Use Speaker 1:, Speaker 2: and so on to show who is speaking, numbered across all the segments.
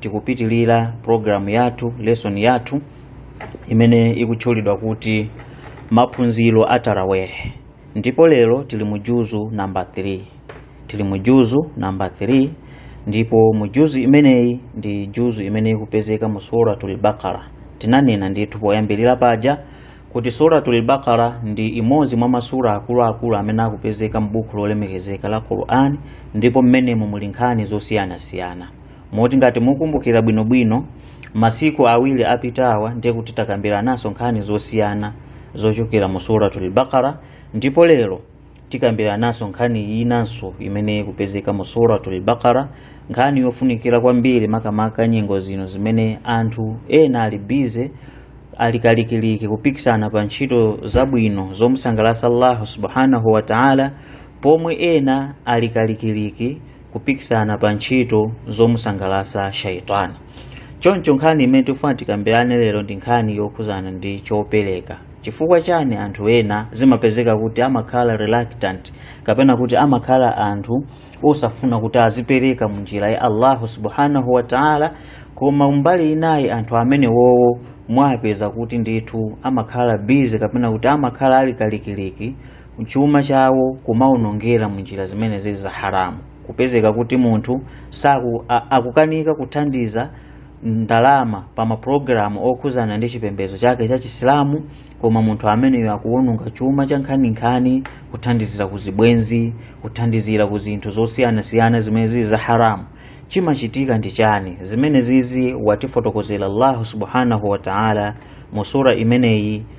Speaker 1: tikupitilira programu yathu lesson yathu imene ikutchulidwa kuti maphunziro a tarawih ndipo lero tili mu juzu namba 3 tili mu juzu namba 3 ndipo mu juzu imeneyi ndi juzu imene ikupezeka mu suratul bakara tinanena ndithu poyambirira paja kuti suratul baqara ndi imodzi mwa masura akuluakulu amene akupezeka m'buku lolemekezeka la qur'an ndipo mmenemo muli nkhani zosiyanasiyana moti ngati mukumbukira bwinobwino masiku awiri apitawa ndiye kuti takambirananso nkhani zosiyana zochokera mu suratul baqara ndipo lero tikambirananso nkhani inanso imene ikupezeka mu suratul baqara nkhani yofunikira kwambiri makamaka nyengo zino zimene anthu ena ali busy alikalikiliki kupikisana pa ntchito zabwino zomusangalatsa allahu subhanahu wataala pomwe ena alikalikiliki kupikisana pa ntchito zomusangalatsa shaitani choncho nkhani imene tifuna tikambirane lero ndi nkhani yokhuzana ndi chopereka chifukwa chani anthu ena zimapezeka kuti amakhala reluctant kapena kuti amakhala anthu osafuna kuti azipereka mu njira ya allahu subhanahu wa taala koma mbali inayi anthu amene wowo mwapeza kuti ndithu amakhala busy kapena kuti amakhala ali kalikiliki chuma chawo kumaonongera mu njira zimene zili za haramu kupezeka kuti munthu akukanika kuthandiza ndalama pa maprogramu okhuzana ndi chipembedzo chake cha chisilamu koma munthu ameneyo akuwononga chuma cha nkhaninkhani kuthandizira ku zibwenzi kuthandizira ku zinthu zosiyanasiyana zimene zili za haramu chimachitika ndi chani zimene zizi watifotokozera allahu subhanahu wa taala mu sura imeneyi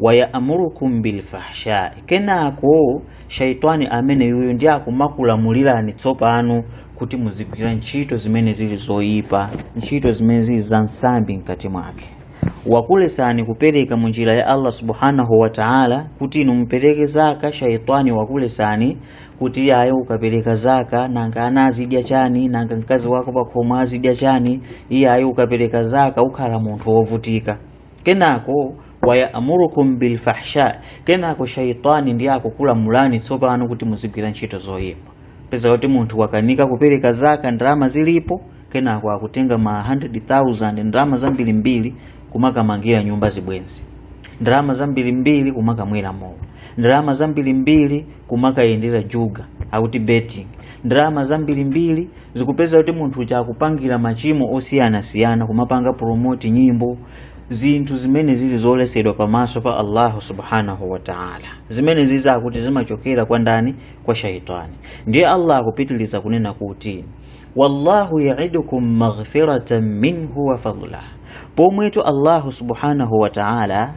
Speaker 1: wayamurukum bilfahsha kenako shaitani amene yuyu ndiye akumakulamulirani tsopano kuti muzigwira ntchito zimene zili zoyipa ntchito zimene zili za nsambi mkati mwake wakulesani kupereka mu njira ya allah subhanahu wa taala kuti inu mupereke zaka shaitani wakulesani kuti ayi ukapereka zaka nanga ana azidya chani nanga mkazi wako pakhomo azidya chani iyayi ukapereka zaka ukhala munthu wovutika kenako wayamurukum bilfahsha kenako shaitani ndiye akukulamulani tsopano kuti muzigwira ntchito zoyipa peza kuti munthu wakanika kupereka zaka ndalama zilipo kenako akutenga ma 100000 ndalama zambirimbiri kumakamangira nyumba zibwenzi ndalama zambirimbiri kumakamwera mowa ndalama zambirimbiri kumakayendera juga akuti betting ndalama zambirimbiri zikupeza kuti munthu uja akupangira machimo osiyanasiyana kumapanga promote nyimbo zinthu zimene zili zoletsedwa pamaso pa allahu subhanahu wataala zimene zizi zakuti zimachokera kwa ndani kwa shaitani ndiye allah akupitiliza kunena kuti wallahu yaidukum maghfiratan minhu wa fadlah pomwetu allahu subhanahu wataala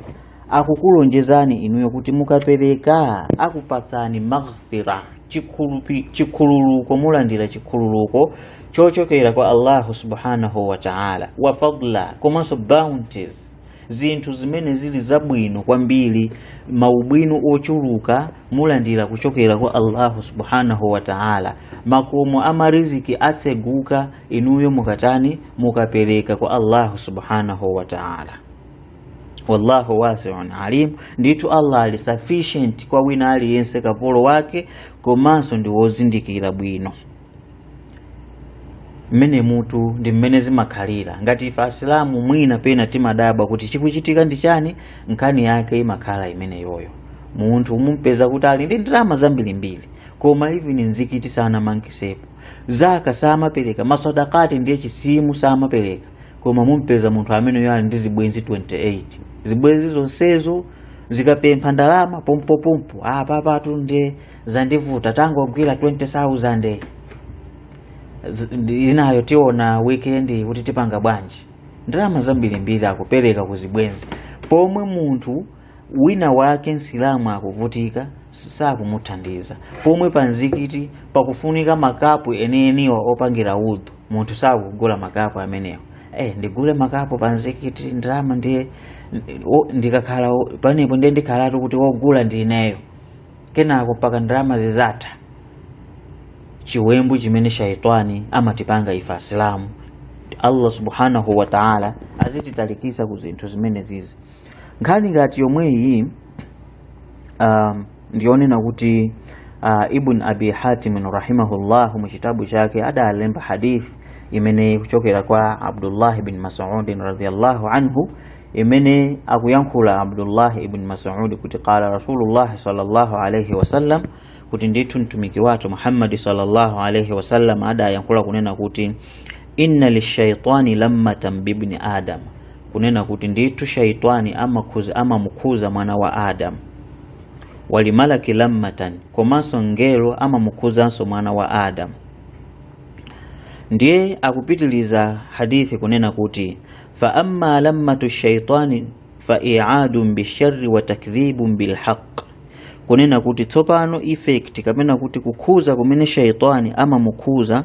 Speaker 1: akukulonjezani inuyo kuti mukapereka akupatsani maghfira chikhululuko mulandira chikhululuko chochokera kwa allahu subhanahu wa taala wa fadla komanso bounties zinthu zimene zili zabwino kwambiri maubwino ochuluka mulandira kuchokera kwa allahu subhanahu wa taala makomo a mariziki atseguka inuyo mukatani mukapereka kwa allahu subhanahu wa taala wallahu wasiun alim, ndithu Allah ali sufficient kwa wina aliyense kapolo wake, komanso ndi wozindikira bwino mmenemutu ndi mmene zimakhalira. Ngati ife Asilamu mwina pena timadabwa kuti chikuchitika ndi chani, nkhani yake imakhala imeneyoyo. Munthu mumpeza kuti ali ndi ndalama zambirimbiri, koma even mzikiti sanamangisepo, zaka samapereka, maswadakati ndiye chisimu samapereka, koma mumpeza munthu ameneyo ali ndi zibwenzi 28 zibwenzi zonsezo zikapempha ndalama pompopompo apapatu nde zandivuta tangogwira 20000 inayo tiona weekend kuti tipanga bwanji ndalama zambirimbiri akupereka ku zibwenzi pomwe munthu wina wake msilamu akuvutika sakumuthandiza pomwe pa mzikiti pakufunika makapu enieniwa opangira udhu munthu sakugula makapu amenewo eh ndigule makapu pa mzikiti ndalama ndiye ndikakhala penepo ndiye ndikhalatu kuti wogula ndi ineyo kenako mpaka ndalama zizatha chiwembu chimene shaitani amatipanga ife asilamu allah subhanahu wa taala azititalikisa ku zinthu zimene zizi nkhani ngati yomweyi um, ndiyonena kuti uh, ibn abi hatimin rahimahullah mu chitabu chake adalemba hadith imene ikuchokera kwa abdullahi ibni masudin radiallahu anhu imene akuyankhula abdullahi ibn masudi kuti qala rasulullahi sallallahu alaihi wasallam kuti ndithu mtumiki wathu muhammadi sallallahu alaihi wasallam adayankhula kunena kuti inna lishaitani lammatan bibni adam kunena kuti ndithu shaitani amamukhuza mwana wa adamu walimalaki lammatan komanso mngelo amamukhuzanso mwana wa adamu ndiye akupitiliza hadithi kunena kuti fa amma lammatu shaitani fa i'adun bisharri wa takdhibun bilhaq kunena kuti tsopano effect kapena kuti kukhuza kumene shaitani amamukhuza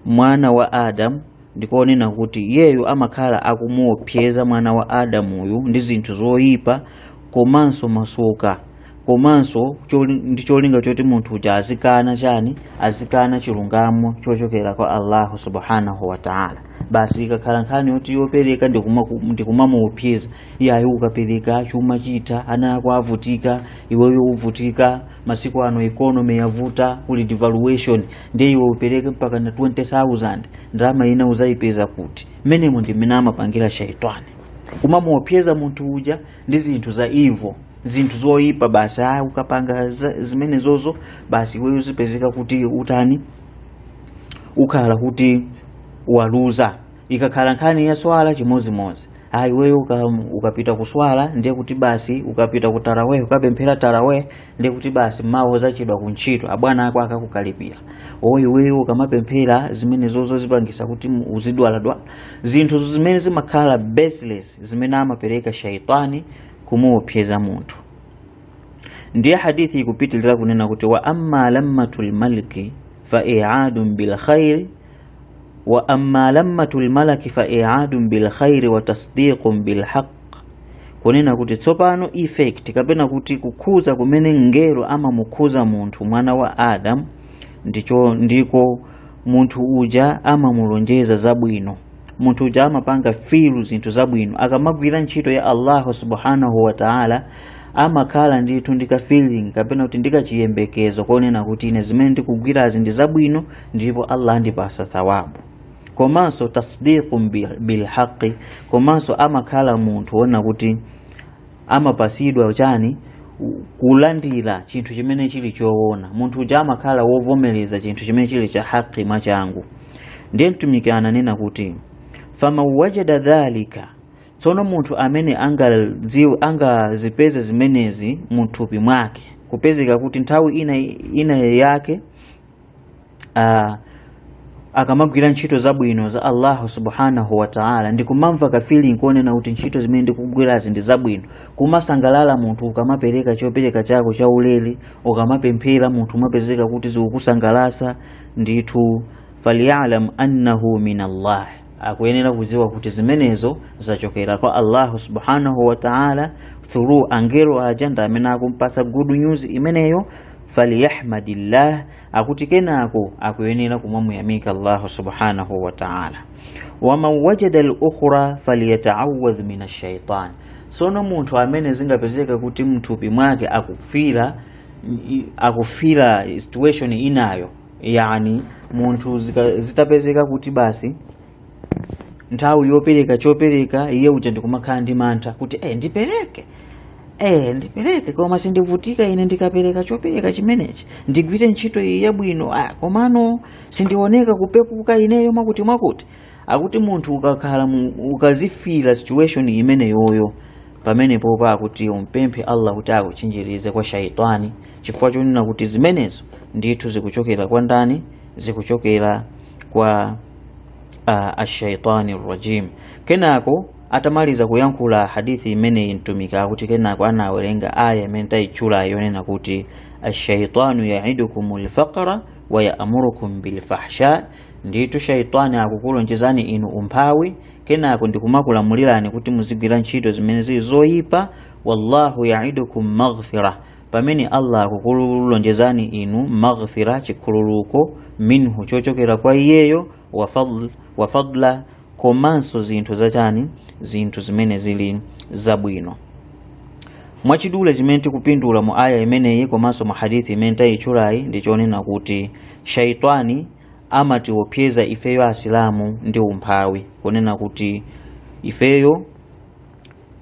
Speaker 1: mwana wa adamu ndikonena kuti iyeyo amakhala akumuopseza mwana wa adamuyu ndi zinthu zoyipa komanso masoka komanso choli- ndi cholinga choti munthu uja azikana chani azikana chilungamo chochokera kwa allahu subhanahu wataala basi ikakhala nkhani yoti yopereka ndi kumaku- ndi kumamuopseza iyayi ukapereka chuma chitha ana ako avutika iweyo uvutika masiku ano economy yavuta kuli devaluation ndiye iwe upereke mpaka na 20000 ndalama ina uzayipeza kuti mmenemo ndi mmene amapangira shaitani kumamuopseza munthu uja ndi zinthu za evil zinthu zoyipa basi ayi ukapanga za- zimenezozo basi iweyo zipezeka kuti utani ukhala kuti waluza ikakhala nkhani ya swala chimodzimodzi ayi iweyo uka, ukapita kuswala ndiye kuti basi ukapita ku taraweh ukapemphera taraweh ndiye kuti basi mawa uzachedwa ku ntchito abwana ako akakukalipira oyi iweyo ukamapemphera zimenezozo zipangisa kuti mu- uzidwaladwala zinthu zimene zimakhala baseless zimene amapereka shaitani kumuopseza munthu ndiye hadithi ikupitilira kunena kuti wa amma lammatu lmaliki fa iadun bilkhairi wa amma lammatu lmalaki fa iadun bilkhairi wa tasdiqun bilhaq kunena kuti tsopano effect kapena kuti kukhuza kumene mngelo amamukhuza munthu mwana wa adamu ndicho ndiko munthu uja amamulonjeza zabwino munthu uja amapanga feel zinthu zabwino akamagwira ntchito ya allahu subhanahu wataala amakhala ndithu ndi kafeeling kapena kuti ndi kachiyembekezo konena kuti ine zimene ndikugwirazi ndi zabwino ndipo allah andipasa thawabu komanso tasdiqu bilhaqi komanso amakhala munthu wonena kuti amapasidwa chani kulandira chinthu chimene chili choona munthu uja amakhala wovomereza chinthu chimene chili cha haqi mwachangu ndiye mtumiki ananena kuti faman wajada dhalika tsono munthu amene angadziwe angazipeze zimenezi muthupi mwake kupezeka kuti nthawi ina, ina yake uh, akamagwira ntchito zabwino za allahu subhanahu wataala ndikumamva kafeeling konena kuti ntchito zimene ndikugwirazi ndi zabwino kumasangalala munthu ukamapereka chopereka chako cha ulere ukamapemphera munthu umapezeka kuti zikukusangalasa ndithu falyalam annahu min allah akuyenera kudziwa kuti zimenezo zachokera kwa allahu subhanahu wa taala through angelo aja ndi amene akumpatsa good news imeneyo faliyahmadillah akuti kenako akuyenera kumamuyamika allahu subhanahu wa taala waman wajada lukhra faliyataawadh min ashaitan sono munthu amene zingapezeka kuti mthupi mwake akufila akufila situation inayo yani munthu zika- zitapezeka kuti basi nthawi yopereka chopereka iye uja ndikumakhala ndi mantha kuti eh ndipereke eh ndipereke koma sindivutika ine ndikapereka chopereka chimenechi ndigwire ntchito iyi yabwino ah komano sindioneka kupepuka ineyo mwakuti mwakuti akuti munthu ukakhala mu- ukazifila situation imeneyoyo pamenepo pa kuti umpemphe allah kuti akuchinjirize kwa shaitani chifukwa chonena kuti zimenezo ndithu zikuchokera kwa ndani zikuchokera kwa uh, ashaitani rajim kenako atamaliza kuyankhula hadithi imeneyi mtumiki akuti kenako anawerenga aya imene tayitchula yonena kuti ashaitanu yaidukum lfaqra wayamurukum bilfahsha ndithu shaitani akukulonjezani inu umphawi kenako ndikumakulamulirani kuti muzigwira ntchito zimene zili zoyipa wallahu yaidukum maghfira pamene allah akukulonjezani inu maghfira chikhululuko minhu chochokera kwa iyeyo wa fadl- wa fadla komanso zinthu zotani zinthu zimene zili zabwino mwachidule chimene tikupindula mu aya imeneyi komanso mu hadithi imene tayitchulayi ndi chonena kuti Shaytwani amatiopseza ifeyo Asilamu ndi umphawi, kunena kuti ifeyo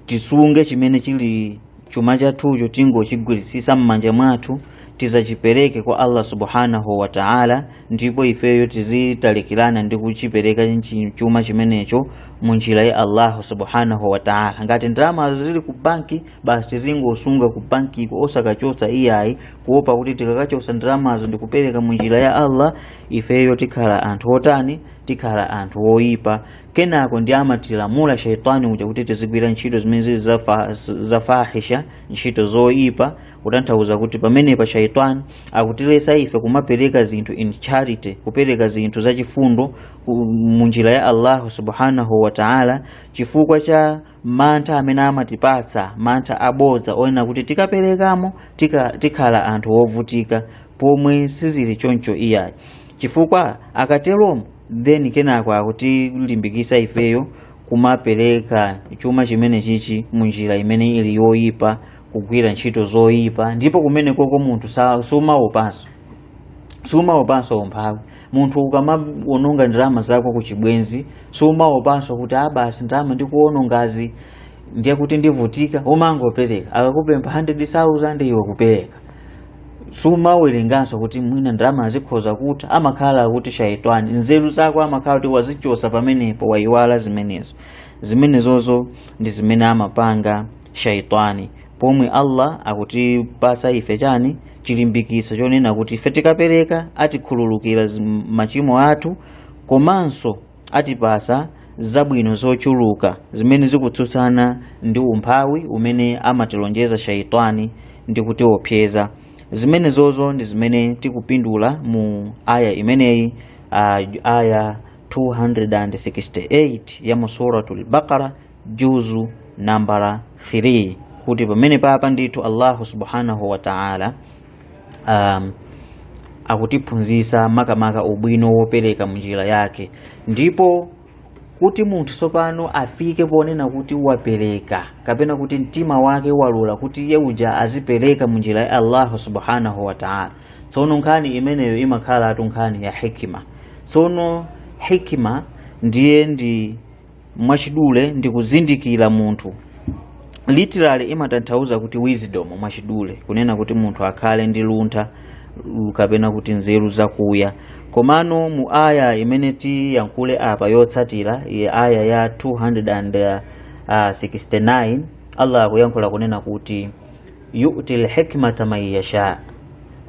Speaker 1: tisunge chimene chili chuma chathucho tingochigwiritsitsa m'manja mwathu tisachipereke kwa Allah subhanahu wa ta'ala, ndipo ifeyo tizitalikirana ndi kuchipereka nchi- chuma chimenecho mu njira ya Allah subhanahu wa ta'ala. Ngati ndalama zili ku banki basi tizingosunga ku bankiko osakachotsa iyayi kuopa kuti tikakachotsa ndalamazo ndikupereka mu njira ya allah ifeyo tikhala anthu otani tikhala anthu oyipa kenako ndi amatilamula shaitani uja kuti tizigwira ntchito zimene zili zafa- zafahisha ntchito zoyipa kutanthauza kuti pamenepa shaitani akutilesa ife kumapereka zinthu in charity kupereka zinthu zachifundo ku- mu njira ya allahu subhanahu wa taala chifukwa cha mantha amene amatipatsa mantha abodza onena kuti tikaperekamo tika, tikhala anthu wovutika pomwe sizili choncho iyayi chifukwa akateromo then kenako akutilimbikitsa ifeyo kumapereka chuma chimene chichi munjira imene ili yoyipa kugwira ntchito zoyipa ndipo kumenekoko munthu sa- sumaopanso sumaopanso umphawi munthu ukamawononga ndalama zako ku chibwenzi sumaopanso kuti aa basi ndalama ndikuwonongazi ndiye kuti ndivutika umangopereka akakupempha 100,000 iwe kupereka sumawerenganso kuti mwina ndalama zikhoza kutha amakhala kuti shaitani nzeru zako amakhala kuti wazichosa pamenepo wayiwala zimenezo zimenezozo ndi zimene amapanga shaitani pomwe allah akutipasa ife chani chilimbikitso chonena kuti ife tikapereka atikhululukira zi- machimo athu komanso atipasa zabwino zochuluka zimene zikutsutsana ndi umphawi umene amatilonjeza shaitani ndi kutiopseza zimenezozo ndi zimene tikupindula mu aya imeneyi ah, aya 268 ya mu suratul baqara juzu nambala 3 kuti pamenepapa ndithu allahu subhanahu wa taala um, akutiphunzitsa makamaka ubwino wopereka munjira yake ndipo kuti munthu tsopano afike ponena kuti wapereka kapena kuti mtima wake walula kuti iye uja azipereka munjira ya allahu subhanahu wa taala tsono nkhani imeneyo imakhalatu nkhani ya hikima tsono hikima ndiye ndi mwachidule ndi kuzindikira munthu literally imatanthauza kuti wisdom mwachidule kunena kuti munthu akhale ndi luntha lu- kapena kuti nzeru zakuya komano mu aya imene tiyankhule apa yotsatirayi aya ya 269 allah akuyankhula kunena kuti yu'til hikmata man yasha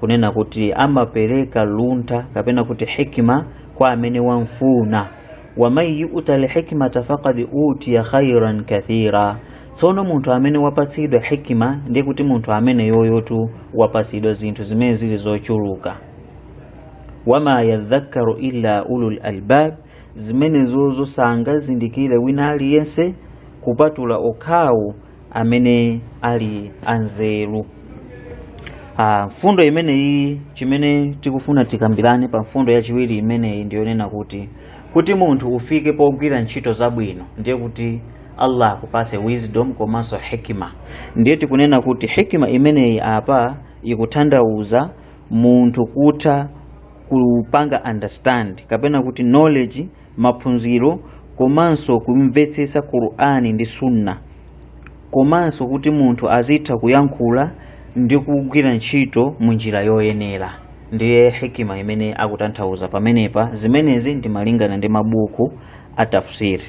Speaker 1: kunena kuti amapereka luntha kapena kuti hikima kwa amene wamfuna wa man yu'ta al-hikmata faqad utiya khairan kathira tsono munthu amene wapatsidwa hikima ndiye kuti munthu ameneyoyotu wapatsidwa zinthu zimene zili zochuluka wama yadhakkaru illa ulul albab zimenezozo sangazindikire wina aliyense kupatula okhawo amene ali anzeru Ah, mfundo imeneyi chimene tikufuna tikambirane pa mfundo yachiwiri imeneyi ndiyonena kuti kuti munthu ufike pogwira ntchito zabwino ndiye kuti allah akupase wisdom komanso hikima ndiye tikunena kuti hikima imeneyi apa ikuthandauza munthu kutha kupanga understand kapena kuti knowledge maphunziro komanso kumvetsetsa qur'ani ndi sunna komanso kuti munthu azitha kuyankhula ndi kugwira ntchito mu njira yoyenera ndiye hikima imene akutanthauza pamenepa zimenezi ndi malingana ndi mabuku a tafsiri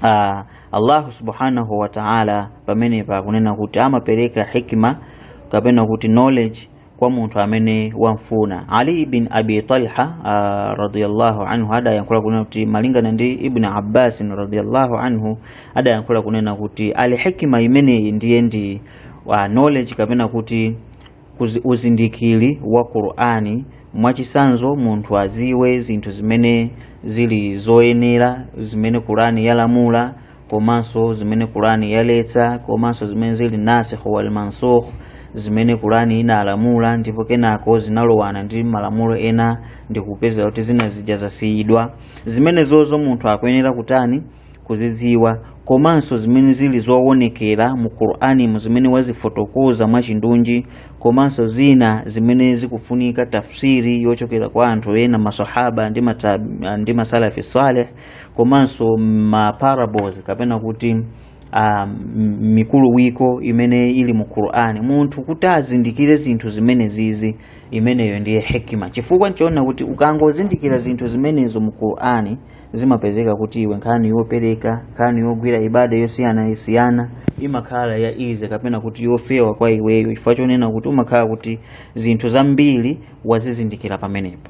Speaker 1: uh, allahu subhanahu wataala pamenepa akunena kuti amapereka hikima kapena kuti knowledge kwa munthu amene wamfuna ali bin abi talha uh, radiyallahu anhu adayankhula kunena kuti malingana ndi ibn abbas radiyallahu anhu adayankhula kunena kuti al hikima imeneyi ndiye ndi uh, knowledge kapena kuti uzindikiri wa qur'ani mwachisanzo munthu aziwe zinthu zimene zili zoyenera zimene qur'ani yalamula komanso zimene kurani yaletsa komanso zimene zili nasikh wal mansukh zimene kurani inalamula ndipo kenako zinalowana ndi malamulo ena ndi kupezeka kuti zina zija zasiyidwa zimenezozo munthu akuyenera kutani kuzidziwa komanso zimene zili zowonekera mu qur'ani mu zimene wazifotokoza mwachindunji komanso zina zimene zikufunika tafsiri yochokera kwa anthu ena masahaba ndi, mata, ndi masalafi saleh komanso ma parables kapena kuti uh, mikuluwiko imene ili mu Qur'ani munthu kuti azindikire zinthu zimene zizi imeneyo ndiye hikima chifukwa mudzaona kuti ukangozindikira zinthu zimenezo mu Qur'ani zimapezeka kuti iwe nkhani yopereka nkhani yogwira ibada yosiyanasiyana imakhala ya easy kapena kuti yofewa kwa iweyo chifukwa chonena kuti umakhala kuti zinthu zambiri wazizindikira pamenepo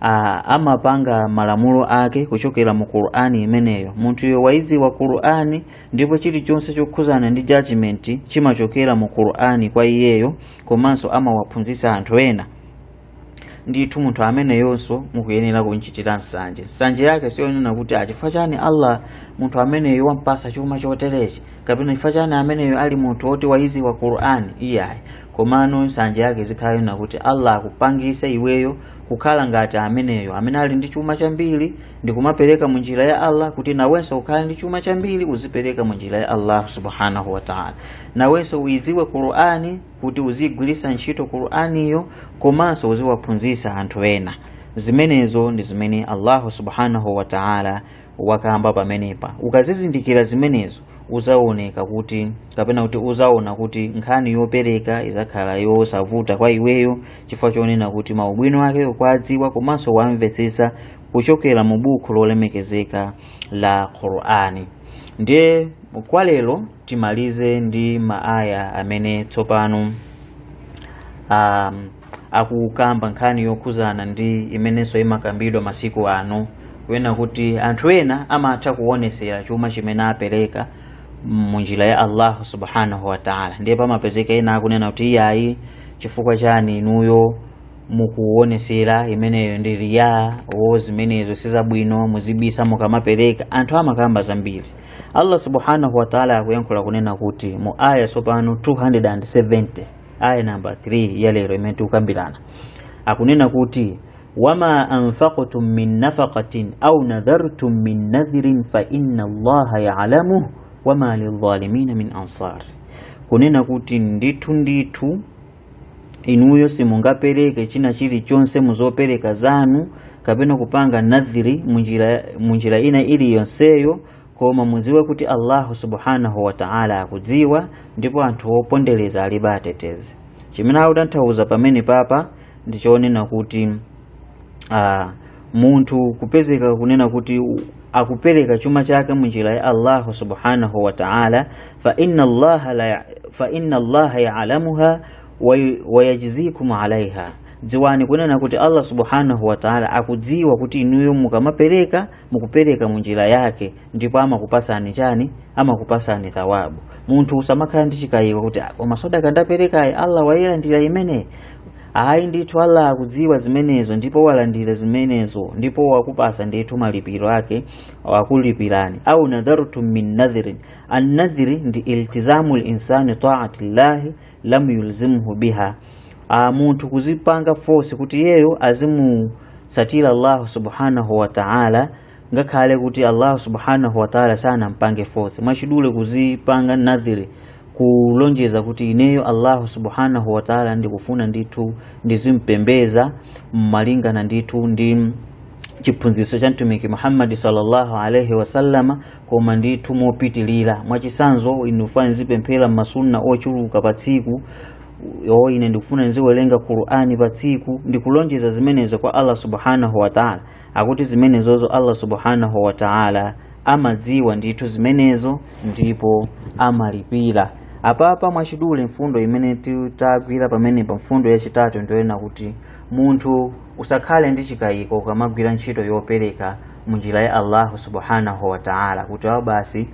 Speaker 1: a amapanga malamulo ake kuchokera mu qur'ani imeneyo munthuyo waidziwa qur'ani ndipo chilichonse chokhuzana ndi judgment chimachokera mu qur'ani kwa iyeyo komanso amawaphunzitsa anthu ena ndithu munthu ameneyonso mukuyenera kumchitira nsanje nsanje yake siyonena kuti a chifukwa chani allah munthu ameneyo wampasa chuma choterechi kapena chifukwa chani ameneyo ali munthu woti waidziwa qur'ani iyayi komano nsanje yake izikhala yonena kuti allah akupangise iweyo kukhala ngati ameneyo amene ali ndi chuma chambiri ndi kumapereka mu njira ya allah kuti nawenso ukhale ndi chuma chambiri uzipereka mu njira ya allah subhanahu wataala nawenso uyidziwe qur'ani kuti uziyigwiritsa ntchito qur'aniyo komanso uziwaphunzitsa anthu ena zimenezo ndi zimene allahu subhanahu wataala wakamba pamenepa ukazizindikira zimenezo uzaoneka kuti kapena kuti uzaona kuti nkhani yopereka izakhala yosavuta kwa iweyo chifukwa chonena kuti maubwino ake ukwadziwa komanso wamvetsetsa kuchokera mu buku lolemekezeka la qur'ani ndiye kwa lero timalize ndi maaya amene tsopano um, akukamba nkhani yokhuzana ndi imenenso imakambidwa masiku ano kunena kuti anthu ena amatha kuonesera chuma chimene apereka munjira ya allahu subhanahu wataala ndiye pamapezeka ena akunena kuti iyayi chifukwa chani inuyo mukuonesera imeneyo ndi riya zimenezo sizabwino muzibisa mukamapereka anthu amakamba zambiri allah subhanahu wataala akuyankhula kunena kuti mu aya tsopano 270 aya namba 3 ya lero imene tikukambirana akunena kuti wama anfaqtum min nafaqatin au nadhartum min nadhrin fa inna allaha yalamuh wama lidhalimina min ansar kunena kuti ndithu ndithu inuyo simungapereke china chilichonse muzopereka zanu kapena kupanga nadhiri munjira ina iliyonseyo koma mudziwe kuti allahu subhanahu wataala akudziwa ndipo anthu opondereza alibe atetezi chimene akutanthauza pamene papa ndi chonena kuti uh, munthu kupezeka kunena kuti akupereka chuma chake munjira ya allahu subhanahu wataala fa inna allaha yaalamuha wayajzikum alaiha dziwani kunena kuti allah subhanahu wataala akudziwa kuti inuyo mukamapereka mukupereka munjira yake ndipo amakupasani chani amakupasani thawabu munthu usamakhala ndi chikayiko kuti "Ah, koma sadaka ndaperekayi allah wayilandira imene ayi ndithu allah akudziwa zimenezo ndipo walandira zimenezo ndipo wakupasa ndithu malipiro ake wakulipirani au nadhartum min nadhrin annadhri ndi iltizamu linsani taati llahi lam yulzimhu biha munthu kuzipanga force kuti iyeyo azimutsatira Allah subhanahu wa ta'ala ngakhale kuti Allah subhanahu wa ta'ala sanampange force mwachidule kuzipanga nadhiri kulonjeza kuti ineyo Allah subhanahu wa ta'ala ndikufuna ndithu ndizimpembeza malingana ndithu ndi chiphunzitso cha mtumiki Muhammad sallallahu alaihi wasallama koma ndithu mopitilira mwachisanzo ine ndikufuna ndizipemphera masunna ochuluka pa tsiku o ine ndikufuna ndiziwerenga qur'ani pa tsiku ndikulonjeza zimenezo kwa allah subhanahu wataala akuti zimenezozo allah subhanahu wataala amadziwa ndithu zimenezo ndipo amalipira apapa mwachidule mfundo imene tagwira pamene pa mfundo yachitatu ndiyonena kuti munthu usakhale ndi chikayiko ukamagwira ntchito yopereka munjira ya allahu subhanahu wa ta'ala kuti awo basi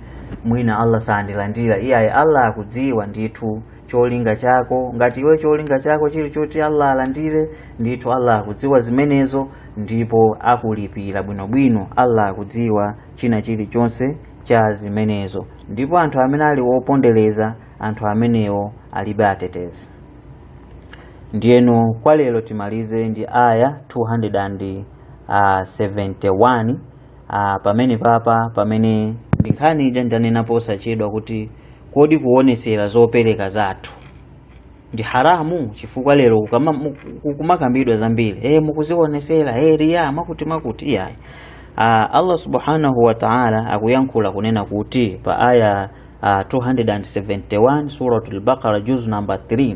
Speaker 1: mwina allah sandilandira iyayi allah akudziwa ndithu cholinga chako ngati iwe cholinga chako chili choti allah alandire ndithu allah akudziwa zimenezo ndipo akulipira bwinobwino allah akudziwa china chilichonse cha zimenezo ndipo anthu amene ali wopondereza anthu amenewo alibe atetezi ndiyeno kwa lero timalize ndi aya 200 and uh, 71 uh, pamene papa pamene ndi nkhani ija ndanena posachedwa kuti kodi kuonesera zopereka zathu ndi haramu chifukwa lero kama- mu- ku- kumakambidwa zambiri e, mukuzionesera e, riya mwakuti mwakuti iyayi Ah, allah subhanahu wa taala akuyankhula kunena kuti pa aya ah, 271 suratul baqara juz number 3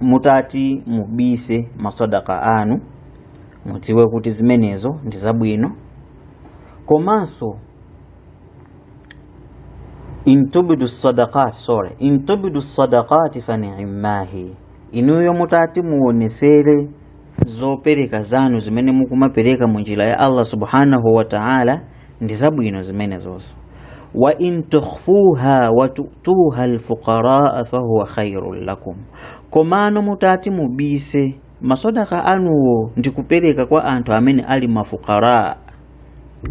Speaker 1: mutati mubise masadaka anu mudziwe kuti zimenezo ndi zabwino komanso intubidu sadaqat sorry intubidu sadaqati fa ni'mahi inuyo mutati muonesere zopereka zanu zimene mukumapereka mu njira ya Allah subhanahu wa ta'ala ndi zabwino zimenezozo wa in tukhfuha wa tutuha alfuqaraa fahuwa khairun lakum komano mutati mubise masadaka anuwo ndi kupereka kwa anthu amene ali mafukara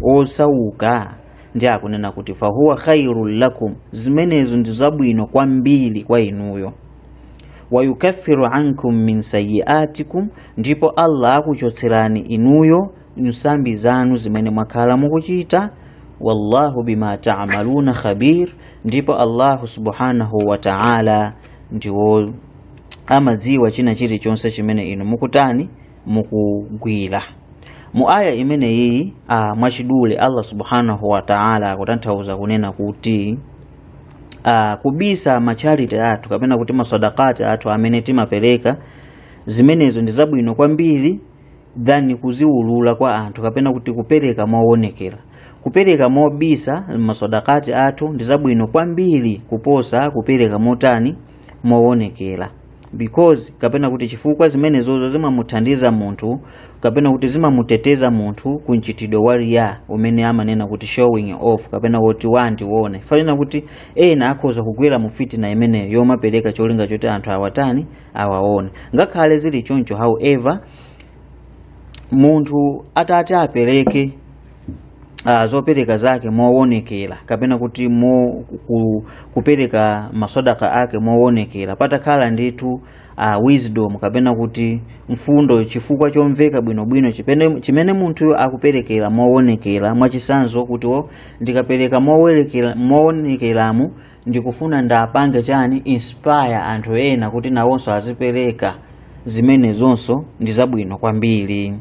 Speaker 1: osauka ndi akunena kuti fahuwa khairun lakum zimenezo ndi zabwino kwambiri kwa inuyo wayukaffiru ankum min sayiatikum ndipo allah akuchotserani inuyo nsambi zanu zimene mwakhala mukuchita wallahu bima taamaluna khabir ndipo allahu subhanahu wa taala ndiwo amadziwa china chilichonse chimene inu mukutani mukugwira mu aya imene iyi ah, mwachidule allah subhanahu wa taala akutanthauza kunena kuti ah, kubisa macharity athu kapena kuti masadakati athu amene timapereka zimenezo ndi zabwino kwambiri than kuziwulula kwa anthu kapena kuti kupereka mowonekera kupereka mobisa masadakati athu ndi zabwino kwambiri kuposa kupereka motani mowonekera because kapena kuti chifukwa zimenezozo zimamuthandiza munthu kapena kuti zimamuteteza munthu ku mchitidwe wa riya umene amanena kuti showing off kapena woti wandione chifukwa ndanena kuti ena akhoza kugwera mu fitina imeneyo yomapereka cholinga choti anthu awatani awaona ngakhale zili choncho however munthu atati apereke uh, zopereka zake mowonekera kapena kuti mo, ku, kupereka masadaka ake mowonekera patakhala ndithu uh, wisdom kapena kuti mfundo chifukwa chomveka bwinobwino chipene- chimene munthuyo akuperekera mowonekera mwachisanzo kuti wo ndikapereka mowerekera- mowonekeramo ndikufuna ndiwapange chani inspire anthu ena kuti nawonso azipereka zimenezonso ndi zabwino kwambiri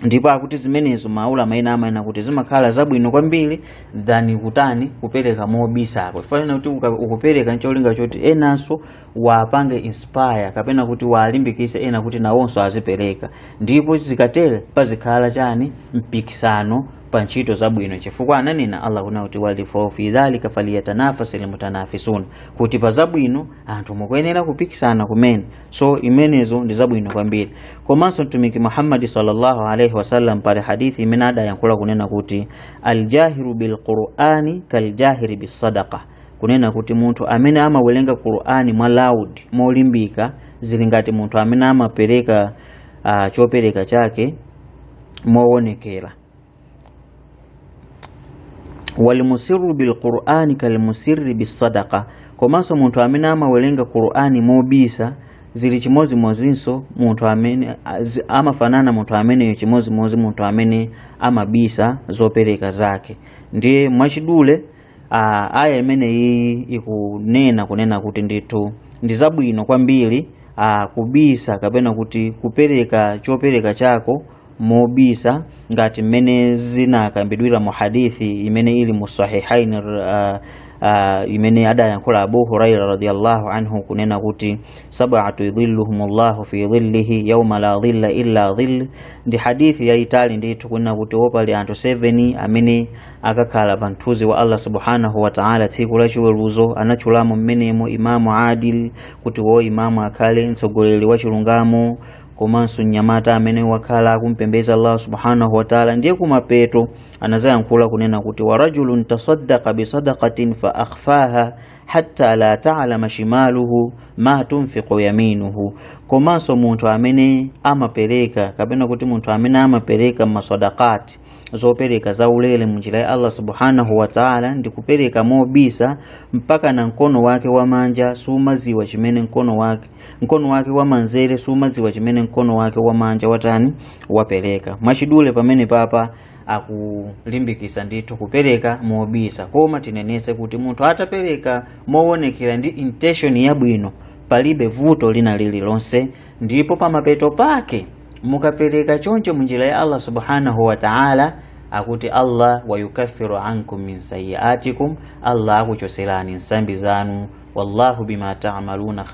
Speaker 1: ndipo akuti zimenezo maulama ena amanena kuti zimakhala zabwino kwambiri than kutani kupereka mobisako chifukwa kuti uka- ukupereka ncholinga choti enanso wapange inspire kapena kuti walimbikise ena kuti nawonso azipereka ndipo zikatere pazikhala chani mpikisano pa ntchito zabwino chifukwa ananena Allah kunena kuti wa fi dhalika falyatanafasil mutanafisun kuti pa zabwino anthu mukuyenera kupikisana kumene so imenezo ndi zabwino kwambiri komanso mtumiki Muhammad sallallahu alaihi wasallam pali hadithi imene adayankhula kunena kuti aljahiru bilqurani kaljahiri bisadaqa kunena kuti munthu amene amawerenga Qur'ani mwa loud molimbika zili ngati munthu amene amapereka uh, chopereka chake mowonekera walmusirru bilqur'ani kalmusirri bisadaka komanso munthu amene amawerenga qur'ani mobisa zili chimodzimodzinso munthu amene amafanana munthu ameneyo chimodzimodzi munthu amene amabisa zopereka zake ndiye mwachidule Ah, aya imeneyi ikunena kunena kuti ndithu ndi zabwino kwambiri ah, kubisa kapena kuti kupereka chopereka chako mobisa ngati mmene zinakambidwira mu hadithi imene ili mu sahihain ah, ah, imene adayankhula abu huraira radiallahu anhu kunena kuti sabatun yudhilluhum llahu fi dhillihi yauma la dhilla illa dhill ndi hadithi yayitali ndithu kunena kuti opali anthu 7 amene akakhala pa mthunzi wa allah subhanahu wataala tsiku la chiweruzo anatchulamo mmenemo imamu adil kuti wo imamu akhale mtsogoleri wa chilungamo komanso mnyamata amene wakhala akumpembeza allah subhanahu wataala ndiye kumapeto anazayankhula kunena kuti warajulun tasaddaka bisadakatin fa akhfaha hatta la talama shimaluhu ma tunfiqu yaminuhu komanso munthu amene amapereka kapena kuti munthu amene amapereka masadaka zopereka za ulere munjira ya Allah subhanahu wa ta'ala ndi kupereka mobisa mpaka na mkono wake wamanja sumaziwa chimene mkono wake mkono wake wamanzere sumaziwa chimene mkono wake wamanja watani wapereka mwachidule pamenepapa akulimbikisa ndithu kupereka mobisa koma tinenese kuti munthu atapereka mowonekera ndi intention yabwino palibe vuto lina lililonse ndipo pamapeto pake mukapereka choncho munjira ya allah subhanahu wa ta'ala akuti allah wayukaffiru ankum min sayiatikum allah akuchoserani nsambi zanu wallahu bima ta'maluna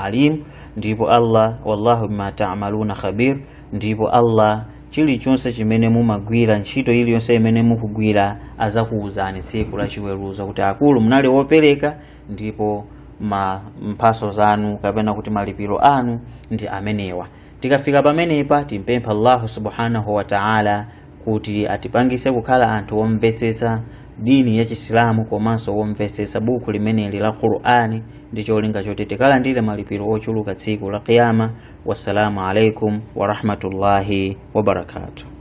Speaker 1: alim ndipo allah wallahu bima ta'maluna khabir ndipo allah chilichonse chimene mumagwira ntchito iliyonse imene mukugwira azakuwuzani tsiku la chiweruzo kuti akulu munali wopereka ndipo ma mphaso zanu kapena kuti malipiro anu ndi amenewa tikafika pamenepa timpempha allahu subhanahu wa taala kuti atipangise kukhala anthu omvetsetsa dini ya chisilamu komanso womvetsetsa buku limeneli la qur'ani ndi cholinga choti tikalandire malipiro ochuluka tsiku la qiyama wassalamu alaikum warahmatullahi wabarakatuh